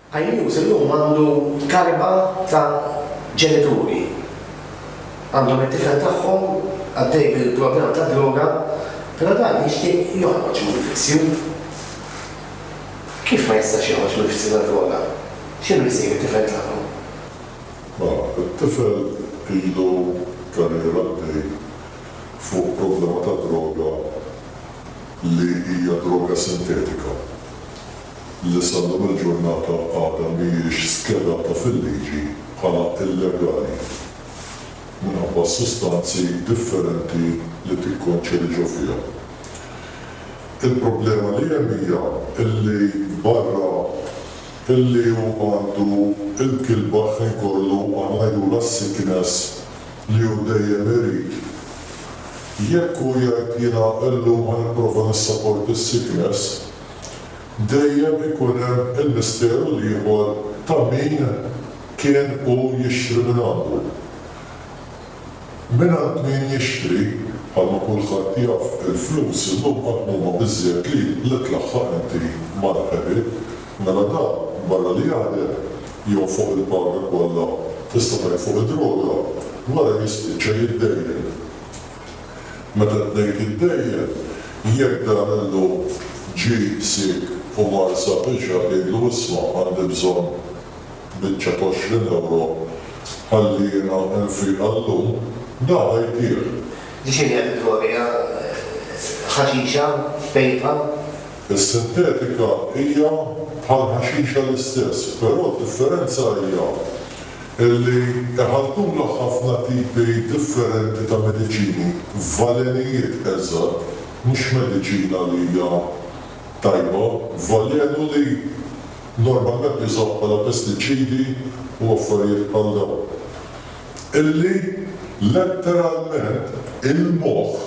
Hainews illum għandu talba ta' ġenituri. Għandhom it-tifel tagħhom għaddej bil-problema tad-droga, però dan jixtieq joħroġ mill-vizzju. Kif ma jistax joħroġ mill-vizzju tad-droga? X'inhu jsir bit-tifel tagħkom? Mela, it-tifel ilu karriera għaddej fuq problema tad-droga li hija droga sintetika li sal-lum il-ġurnata għadha mhijiex skedata fil-liġi bħala illegali minħabba s-sustanzi differenti li tikkonċedi ġo fiha. Il-problema li hemm hija li barra li hu għandu l-kilba ħin kollu għanajrulha sickness, li hu dejjem irid. Jekk hu jgħid jiena illum ħa nipprova nissaport is-sickness, dejjem ikun hemm il-misteru l-ieħor ta' min kien hu jixtri mingħandu. Mingħand min jixtri, bħalma kulħadd jaf, il-flus illum qatt m'huma biżżejjed li li tlaħħaq inti mal-ħbieb. Mela dan, barra li jaħdem, jonfoq il-paga kollha tista' tgħin fuq id-droga, wara jispiċċa jiddejjen. Meta t-tnejn tiddejjen, jekk dan illum ġie siek u mar sab biċa jgħidlu isma' għandi bżonn biċċa t'għoxrin ewro ħalli jiena nfiq għal-lum, da għajtih. Ġifieri hija tiddrogja ħaxixa, vejpa. Is-sintetika hija bħall-ħaxixa l-istess, però d-differenza hija li iħalltulha ħafna tipi differenti ta' mediċini f'valenijiet eżatt, mhux mediċina li hija tajba, valenu li normalment jużawh bħala pestiċidi u affarijiet bħal dawn, illi letteralment il-moħħ.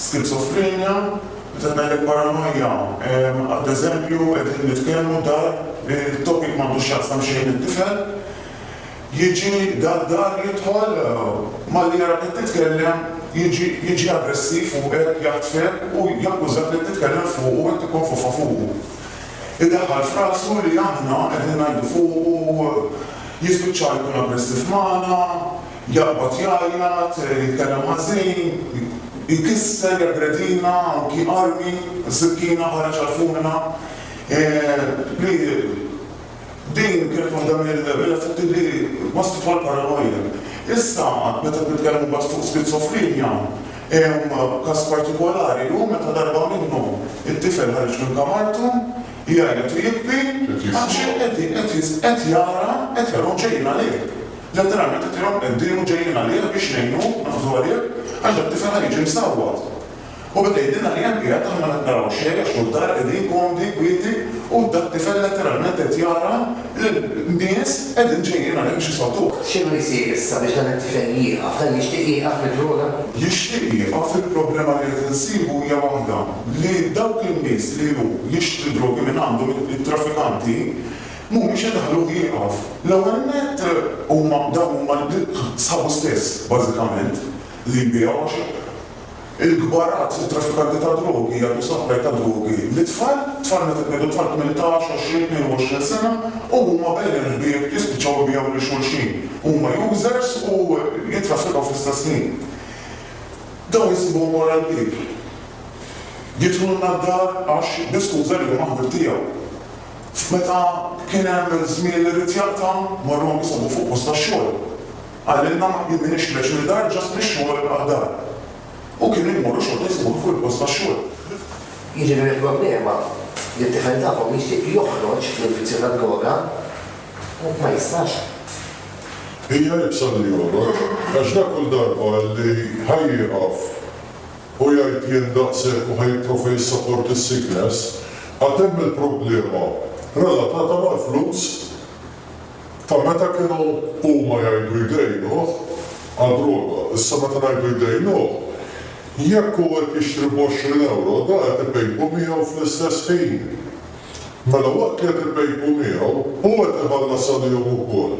skizofrenja, meta ngħidlek paranojja, ad eżempju qegħdin nitkellmu dar li t-topic m'għandu x'jaqsam xejn mit-tifel, jiġi dak dar jidħol malli jarak qed titkellem jiġi jiġi aggressiv u qed jaħtfek u jakkużak li qed titkellem fuqu u qed tikkonfofa fuqu. Idaħħal f'rasu li aħna qegħdin ngħidu fuqu, jispiċċa jkun aggressiv magħna, Jaqbad jgħajjat, jitkellem ħażin, ikisser, jaggredina, anki armi, sikkina, ħareġ għall-fumina. Li din kienet waħda mill-effetti li wasslitu għall-paranoja. Issa, meta qed nitkellmu mbagħad fuq skizofrenja, hemm każ partikolari u meta darba minnhom it-tifel ħareġ minn kamartu, Jgħajjat u jibki għax qed jara eterom ġejjin għalih. Letteralment eterom qeddiemu ġejjin għalih biex jgħinu, naħfdu għalih, għax dak-tifel ħa jiġi msawwat. U beda jgħidilna li hemm qiegħed aħna ma qed naraw xejn għax hu d-dar qegħdin komdi, kwieti u dak-tifel letteralment qed jara L-nies qegħdin ġejjin għalhekk biex jisgħoduh. X'inhu jsir issa biex dan it-tifel jieqaf? Dan jixtieq jieqaf mid-droga? Jixtieq jieqaf, il-problema li qed insibu hija waħda, li dawk in-nies li hu jixtri d-drogi minn għandhom, it-traffikanti, mhumiex idaħħluh jieqaf. L-ewwel nett huma dawn huma sħabu stess bażikament li jbigħu għax. Il-kbarat, it-traffikanti tad-drogi jagħtu supply ta' drogi lit-tfal, tfal meta tnidu tfal tmintax, għoxrin, tnejn u għoxrin sena u huma bejn il-ħbieb jispiċċaw ibigħu lil xulxin. Huma users u jittraffikaw fl-istess ħin. Dawn isibuhom wara l-bieb. Jidħlulna d-dar għax bi skuża li huma ħbieb tiegħu. F'meta kien hemm żmien li ried jaqta' marru anki sabu fuq post tax-xogħol. Qalilna ma tniedinixlex minn dar ġast mix-xogħol għal dar. U kien immorru xorta jsibuha fuq il-post tax-xogħol. Jiġifieri l-problema li t-tifel tagħkom jixtieq joħroġ mill-vizzju tad-droga u ma jistax. Hija iebsa li joħroġ għax dak kull darba li ħa jieqaf u jgħid jien daqshekk u ħa jipprova jissapport is-sickness, għad hemm il-problema relatata mal-flus. Ta' meta kienu huma jgħidu jdejnuh għad-droga, issa meta ngħidu jdejnuh, jekk hu qed jixtri b'għoxrin ewro, dan qed ipejpu miegħu fl-istess ħin. Mela waqt li qed ipejpu miegħu, hu qed iħallas għalihom ukoll.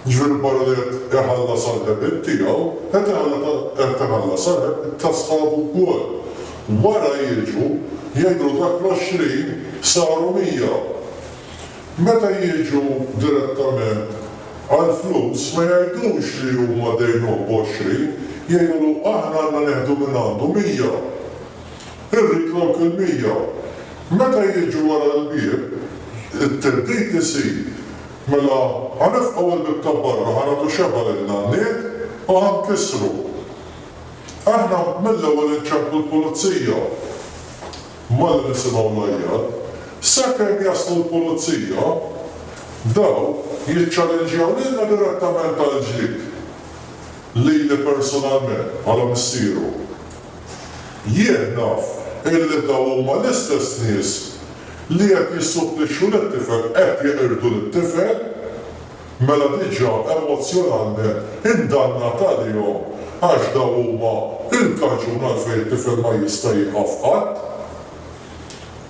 Jiġifieri barra li qed iħallas għall-ħebit tiegħu, qed iħallas għall-ħebit ta' sħabu wkoll. Wara jiġu jgħidlu dak l-għoxrin saru mija. Meta jiġu direttament għall-flus ma jgħidux li huma dejnuh b'għoxrin, jgħidulu aħna għandna nieħdu minn għandu mija. Irrid lok il-mija. Meta jiġu wara l-bieb, it-theddid isir, mela ħa nifqgħu l-bieb ta' barra, ħa nagħtu xebgħa lin-nanniet u ħa nkissru. Aħna mill-ewwel inċemplu l-pulizija. Mara nisimgħu l-għajjat, sakemm jaslu l-pulizija, dawn jiċċalenġjaw lilna direttament għall-ġlied lili persunalment bħala missieru. Jien naf illi dawn huma l-istess nies li qed jissupplixxu lit-tifel qed jeqirdu lit-tifel. Mela diġa emozjonalment indannat għalihom għax dawn huma il-kaġun għalfejn it-tifel ma jista' jieqaf qatt.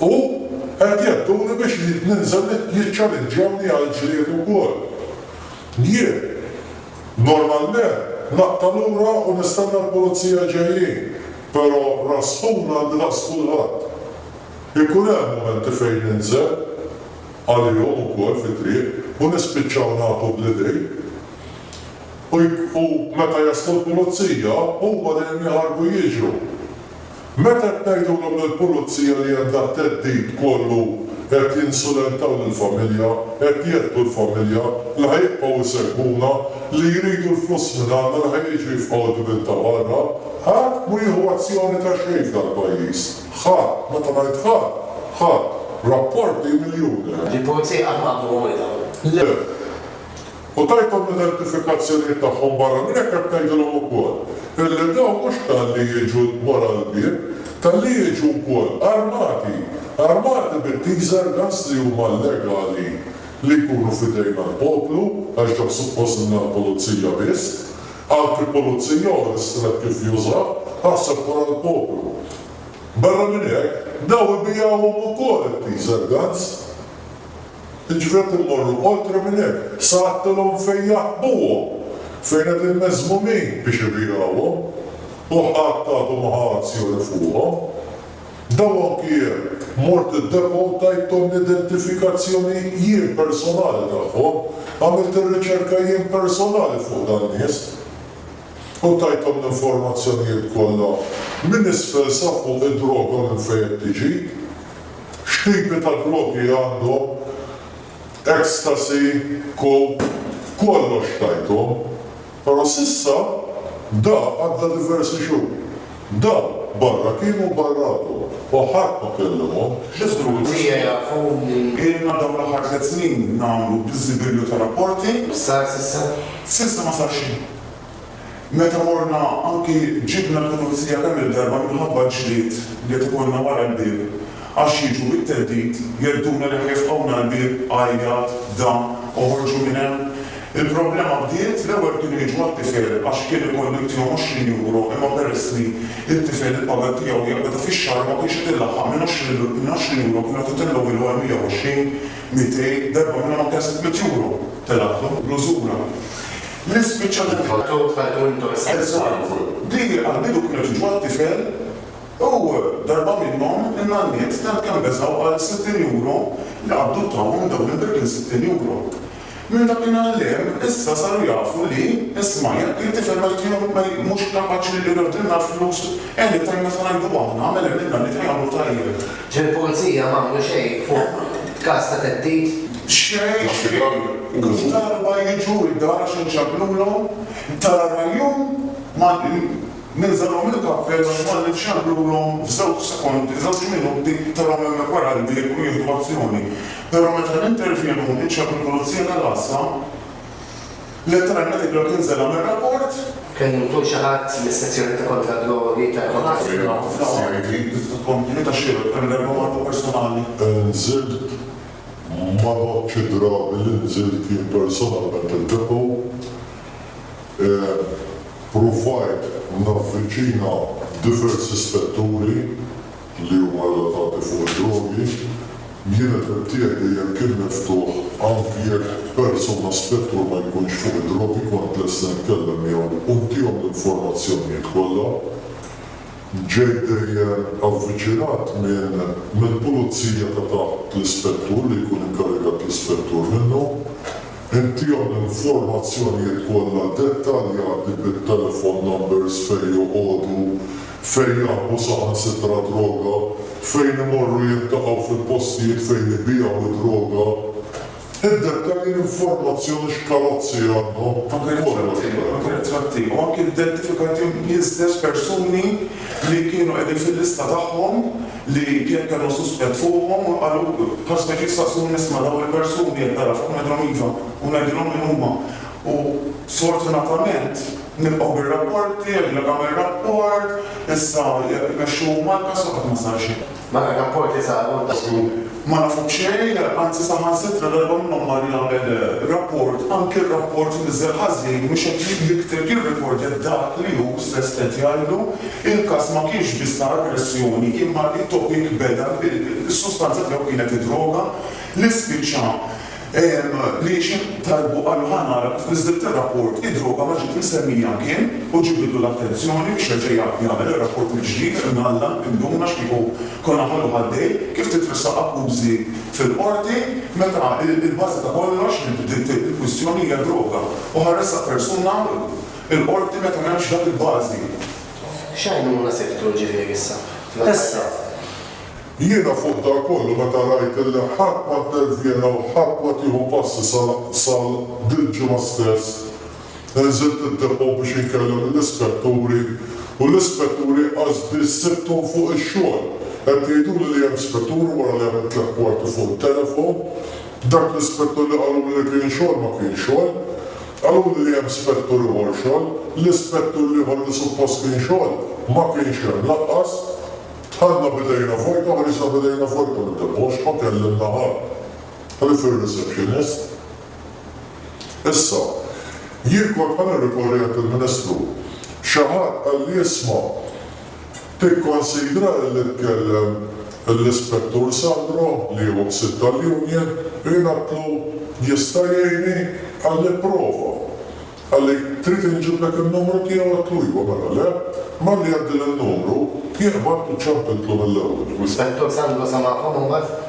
U qed jedduni biex ninżel jiċċalinġjawni għall-ġlied ukoll. Jien normalment naqta' lura u nistenna l-pulizija ġejjin, però raspun għandi daqs kulħadd. Ikun hemm mumenti fejn ninżel, għalihom ukoll fit-triq u nispiċċaw nagħtu bl-idejn u u meta jaslu l-pulizija huma dejjem jaħarbu jiġru. Meta qed ngħidulhom lill-pulizija li hemm dat-theddid kollu qed jinsulentaw lill-familja, qed jehdu l-familja, li ħa jibqgħu jsegwuna, li jridu l-flus minn għandna li ħa jiġu jifqgħu d-dmien ta' barra, ħadd mhu jieħu azzjoni ta' xejn f'dal-pajjiż. Ħa, meta ngħid ħa, ħa, rapporti miljuni. Il-Pulizija qatt ma għamlu għomilha. Le. U tajthom l-identifikazzjonijiet tagħhom barra minn hekk qed ngħidilhom ukoll illi dawn mhux talli jiġu wara l-bieb, talli jiġu wkoll armati, armati bit-teaser guns li huma llegali li jkunu f'idejna l-poplu għax dawk suppost ilna l-Pulizija biss. Anki pulizija hu ristret kif juża, aħseb wara l-poplu. Barra minn hekk, dawn ibigħuhom ukoll it-teaser guns. Jiġifieri qed immorru oltre minn hekk, sa għadtilhom fejn jaħbuhom, fejn qegħdin meżmumin biex ibigħuhom, u ħadd għadu ma ħa azzjoni fuqhom. Dawn anki jekk mort id-depot u tajthom l-identifikazzjoni jien personali tagħhom, għamilt ir-riċerka jien personali fuq dan nies u tajthom l-informazzjonijiet kollha minn isfel sa fuq id-droga minn fejn qed tiġi, x'tipi ta' drogi għandhom, ecstasy, coke, kollox tajthom. Però s'issa bda għadda diversi xhur. Bda barra kien u barra għadu u ħadd ma kellimhom. X'isru fija jafu li. Ilna dawn l-aħħar tliet snin nagħmlu biżibilju ta' rapporti. X'sar s'issa? S'issa ma sar xejn. Meta morna anki ġibna l-Pulizija kemm il-darba minħabba ġlied li qed ikollna wara l-bieb għax jiġu bit-theddid, jedduna li ħajfqgħuna l-bieb, għajjat, dan, oħorġu minn hemm. Il-problema bdiet, l-ewwel kienu jiġu għat-tifel għax kien ikun l-ibtieħu 20 Euro imma peress li t-tifel il-paga tiegħu hija beda fix-xahar ma kienx qed ilaħħaq minn 20 Euro kienu qed itellgħuhielu għal 120, 200, darba minnhom anke għal 600 Euro telgħatlu bl-użura li spiċċa li Tħalltu, tħalltu intom is-sitwazzjoni. Eżatt. Di għall-bidu kienu qed jiġu għat-tifel u darba minnhom in-nanniet tant kemm beżgħu għal 60 Euro li qabdu tawhom dawn il-Birkins 60 Euro. Minn dakinhar 'l hemm, issa saru jafu li, isma', jekk it-tifel ma jtihom, ma j, mhux kapaċi li jordna l-flus, anytime meta ngħidu aħna, mela għmilna li ta' jagħmlu tajjeb. Ġieli l-Pulizija ma għamlu xejn fuq każ ta' theddid? Xejn, xejn. Kull darba jiġu d-dar għax inċemplulhom, tara l-għajjun, ma, ninżalhom il-kappell għax ma ninċemplulhom f'żewġ sekondi, żewġ minuti, tarahom hemmhekk wara l-bieb u jieħdu azzjoni. Però meta nintervjenu u niċċaħħad il-pulizija tal-għassa, l-elettorali ta' Tikla tinżela' mir-rapport. Kien imħu xi ħadd mis-sezzjoni ta' kontra d-drogi tal-Konsilju? Kontinwità xierqa tqajjem darba waħda personali? Inżilt, ma nħoddx id-drabi li nżilt jien personalment il-Depo. Ppruvajt navviċina diversi spetturi. li huma relatati fuq id-drogi, kienet qed tgħid li jekk kien miftuħ anki jekk persuna spettur ma jkunx fuq id-drogi kont lesta nitkellem miegħu u ntihom l-informazzjonijiet kollha. Ġejt dejjem avviċinat minn mill-pulizija ta' taħt l-ispettur li jkun inkarigat l-ispettur minnu. Inthom l-informazzjonijiet kollha dettaljati bit-telephone numbers fejn joqogħdu, fejn jaħbu saħansitra droga, fejn imorru jiltaqgħu fil-postijiet fejn ibigħu d-droga. Id-dettalji l-informazzjoni x'karozzi għandhom, kollox. Ritratti u anki identifikati l-istess persuni li kienu qegħdin fil-lista tagħhom. li kien kellu suspett fuqhom u qalu, ħarsna kif saqsuni isma' dawn il-persuni qed nara fuq ngħidilhom iva u ngħidilhom min huma u sfortunatament nilqgħu bir-rapporti, jgħidulek agħmel rapport, issa jmexxuhom mal-każ u qatt ma sar xejn. Mela r-rapporti saru u ttieħdu. Ma nafu b'xejn, anzi saħansitra darba minnhom mar jagħmel rapport, anki r-rapport niżel ħażin, mhux qed jikteb, jirrikordja dak li hu stess qed jgħidlu, il-każ ma kienx biss ta' aggressjoni imma t-topic beda bil, is-sustanza tiegħu kienet id-droga li spiċċa L-għixien talbu qalu ħa nara kif niżlilt ir-rapport, id-droga ma ġiet msemmija mkien u ġibidlu l-attenzjoni biex jerġa' jagħmel ir-rapport mill-ġdid fejn Alla induna x'kieku konna ħalluh għaddej, kif titressaq akkużi fil-Qorti meta l-bażi ta' kollox li bdiet il-kwistjoni hija d-droga u ħa ressaq persuna l-Qorti meta m'hemmx dak il-bażi. X'għajnuna sibtu ġifieri issa? Issa. Jiena fuq dan kollu meta rajt illi ħadd ma intervjena u ħadd ma tieħu passi sal sal dil-ġimgħa stess, inżilt id-depot biex inkellem lill-ispetturi u l-ispetturi qas biss sibthom fuq ix-xogħol. Qed jgħiduli li hemm spettur wara li għamilt l-akkwarti fuq it-telefon. Dak l-ispettur li qaluli li kien xogħol ma kien xogħol. Qaluli li hemm spettur ieħor xogħol. L-ispettur l-ieħor li suppost kien xogħol ma kienx hemm lanqas. Dħalna b'idejna vojta u ħriġna b'idejna vojta minn dil-ħoxka, kellimna Ħalq, ħlief ir-receptionist. Issa, jien kont ħa nirrikorri għand il-Ministru. Xi ħadd qalli isma', tikkonsidra illi tkellem lill-Ispettur Sandro li hu ħsieb tal-union, u jien għedtlu, jista' jgħinni? Qalli, pprova. Għalhekk trid inġiblek in-numru tiegħu għedtlu ijwa mela le, malli għeddilha n-numru, jien qbadt u ċċampiltlu mill-ewwel. L-Ispettur Sandro samagħhom imbagħad?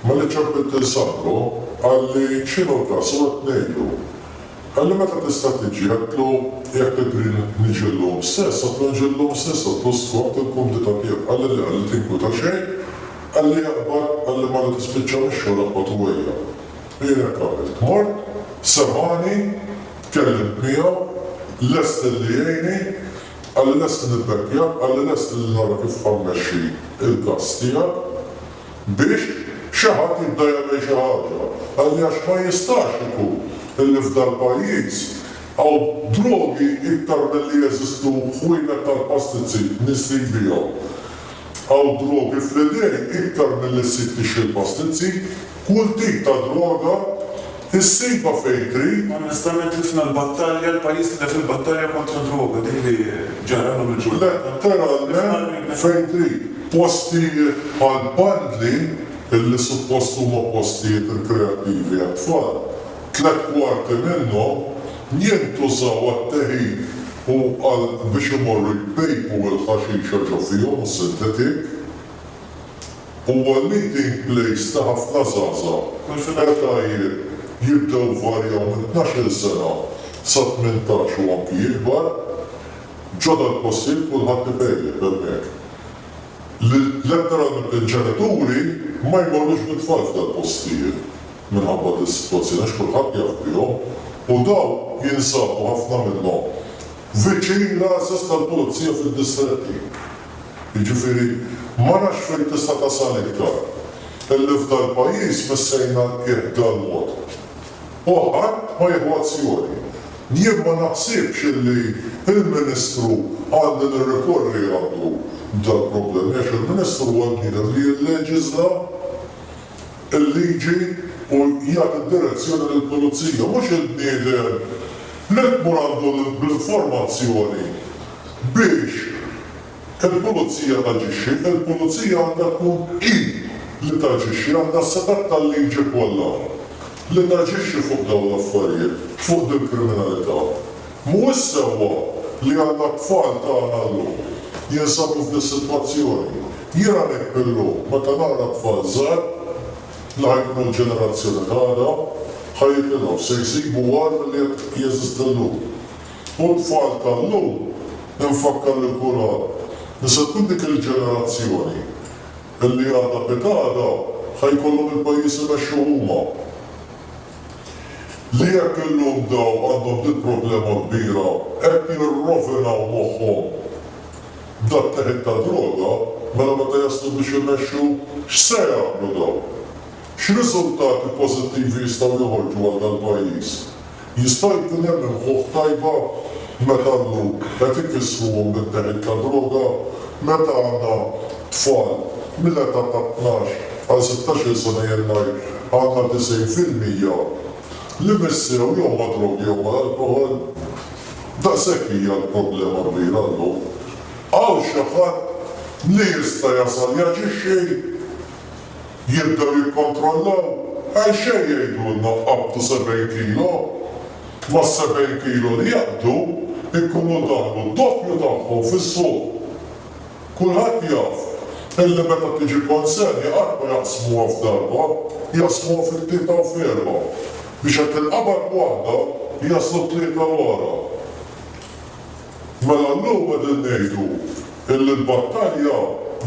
Malli ċċampilt lil Sandro, qalli x'inhu l-każ u għedt ngħidlu. Qalli meta tista' tiġi, għedtlu, jekk tidri niġi llum stess, għedtlu nġi llum stess, għedtlu skont il-kumdita tiegħu. Qalli le, qalli tinkwita xejn, qalli iqbad, qalli malli tispiċċa mix-xogħol iqbad u ejja. B'għajnejha qabelt mort, semgħani, tkellimt miegħu, lest li jgħinni, qalli lest li nibbekkjah, qalli lest li nara kif ħa mmexxi l-każ tiegħek biex xi ħadd jibda jagħmel xi ħaġa, qalli għax ma jistax ikun li f'dal-pajjiż hawn drogi iktar milli jeżistu ħwienet tal-pastizzi, nies li jbigħhom. Hawn drogi fl-idejn iktar milli ssib tixtri l-pastizzi. Kull tip ta' droga issibha fejn trid. Onestament tlifna l-battalja, l-pajjiż tilef il-battalja kontra d-droga, dik li ġara llum il-ġurnata. Letteralment fejn trid. Postijiet bħal Bandli, illi suppost huma postijiet rikreattivi għat-tfal, tliet kwarti minnhom jintużaw għat-teħid u għal biex imorru jpejpu l-ħaxixa ġo fihom u s-sintetik. Huwa l-leading place ta' ħafna żgħażagħ li fl-etajiet jibdew jvarjaw minn tnax-il sena sa tmintax u anki ikbar. Ġo dal-postijiet kulħadd ipejjep hemmhekk. Letteralment il-ġenituri ma jmorrux bit-tfal f'dal-postijiet minħabba dis-sitwazzjoni għax kulħadd jaf bihom u dawn jinsabu ħafna minnhom viċin l-għażiż tal-pulizija fid-distretti. Jiġifieri, ma nafx fejn tista' tasal iktar, illi f'dal-pajjiż missejna l-qiegħ b'dal-mod. U ħadd ma jieħu azzjoni. Jien ma naħsibx illi l-Ministru għandi nirrikorri għandu b'dal-problemi għax il-Ministru huwa l-bniedem li jilleġiżla. il-liġi u jagħti d-direzzjoni lill-pulizija, mhux il-bniedem li tmur għandu bl-informazzjoni biex il-pulizija taġixxi. Il-pulizija għandha tkun hi li taġixxi, għandha s-setgħat tal-liġi kollha li taġixxi fuq dawn l-affarijiet, fuq dil-kriminalità. Mhuwiex sewwa li għandna t-tfal tagħna llum jinsabu f'dis-sitwazzjoni. Jien għalhekk billum meta nara t-tfal żgħar li ħa jkunu l-ġenerazzjoni ta' għada, ħa jitilgħu, se jsibu agħar milli qed jeżisti llum. U t-tfal ta' llum, infakkar lil kulħadd, li se tkun dik il-ġenerazzjoni li għada pitgħada ħa jkollhom il-pajjiż imexxuh huma. li jekk illum dawn għandhom din problema kbira qed jirrovinaw moħħhom b'dak teħid ta' droga, mela meta jaslu biex imexxu x'se jagħmlu dawn? X'riżultati pożittivi jistgħu joħorġu għal dal-pajjiż? Jista' jkun hemm imħuħ tajba? meta l-lhud qed ikissruhom bit-teħid ta' droga meta għandna tfal mill-età ta' tnax għal sittax-il sena jew ngħid għandna disgħin fil-mija li missiew jew mad-drogi jew mal-alkoħol. Daqshekk hija l-problema kbira llum. Hawn xi ħadd li jista' jasal jaġixxi? Jibdew jikkontrollaw, għal xejn jgħidulna tqabbdu sebgħin kilo. Mas-sebgħin kilo li jaqbdu jkunu daħlu d-doppju tagħhom fis-suq. Kulħadd jaf illi meta tiġi konsenja qatt ma jaqsmuha f'darba, jaqsmuha fi tlieta u f'erbgħa biex hekk tinqabad waħda jaslu t-tlieta wara. Mela llum qegħdin ngħidu illi l-battalja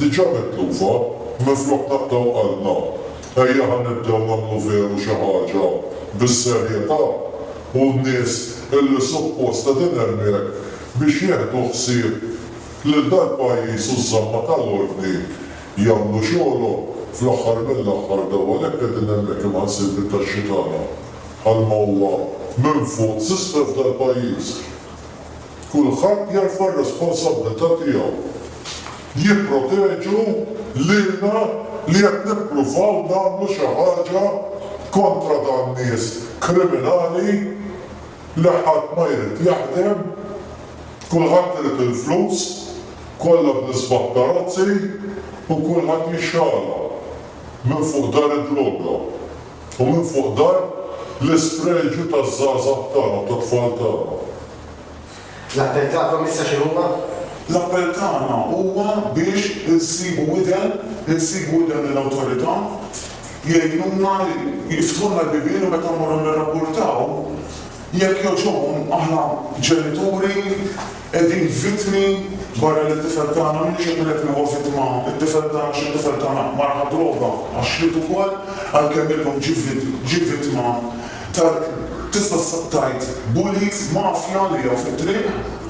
diġà mitlufa, minflok naqtgħu qalbna, ejja ħa nibdew nagħmlu veru xi ħaġa bis-serjetà u n-nies illi suppost qegħdin hemmhekk biex jieħdu ħsieb lil dal-pajjiż u ż-żamma tal-ordni jagħmlu xogħolhom. Fl-aħħar mill-aħħar daw għalhekk qegħdin hemmhekk imħallsin bit-taxxi tagħna. Għall-qawwa minn fuq tislef dal pajjiż. Kulħadd jerfa r-responsabbiltà tiegħu. Jipproteġu lilna li qed nippruvaw nagħmlu xi ħaġa kontra dan nies kriminali li ħadd ma jrid jaħdem, kulħadd irid il-flus, kollha bl-isbaħ karozzi u kulħadd jixxala minn fuq dar id-droga. U minfuq dan, l-isfreġju taż-żgħażagħ tagħna u tat-tfal tagħna. L-appell tagħkom issa x'inhuwa? L-appell tagħna huwa biex insibu widen, insibu widen lill-Awtorità, jgħinuna, jiftħulna l-bibien u meta mmorru nirrapportaw, jekk jogħġobhom, aħna ġenituri, Qegħdin vittmi barra li t-tifel tagħna minix qed ngħid li huwa vittma t-tifel tagħna għax it-tifel tagħna mar għad-droga għax-xliet ukoll għalkemm illum ġie vittma ta' tista' tgħid bullies, mafja li hawn fit-triq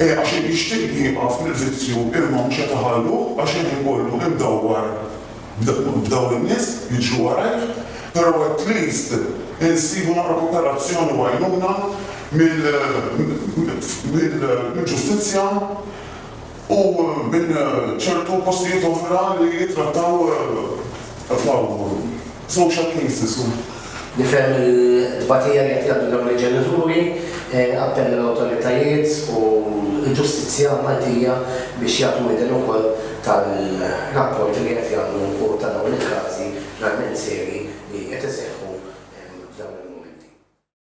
għax jixtieq jieqaf mill-vizzju imma mhux qed iħalluh għax hemm ikollu imdawwar. B'dawn in-nies jiġri warajh, però at least insibu naqra koperazzjoni u għajnuna mill-ġustizzja u minn ċertu postijiet oħra li jittrattaw social cases. Nifhem il-tbatija li qed jgħaddu dawn il-ġenituri. Appell lill-awtoritajiet u l-ġustizzja Maltija biex jagħtu widen ukoll tal-rapporti li qed jagħmlu u ta' dawn il-każi verament serji li qed iseħħu f'dawn il-mumenti.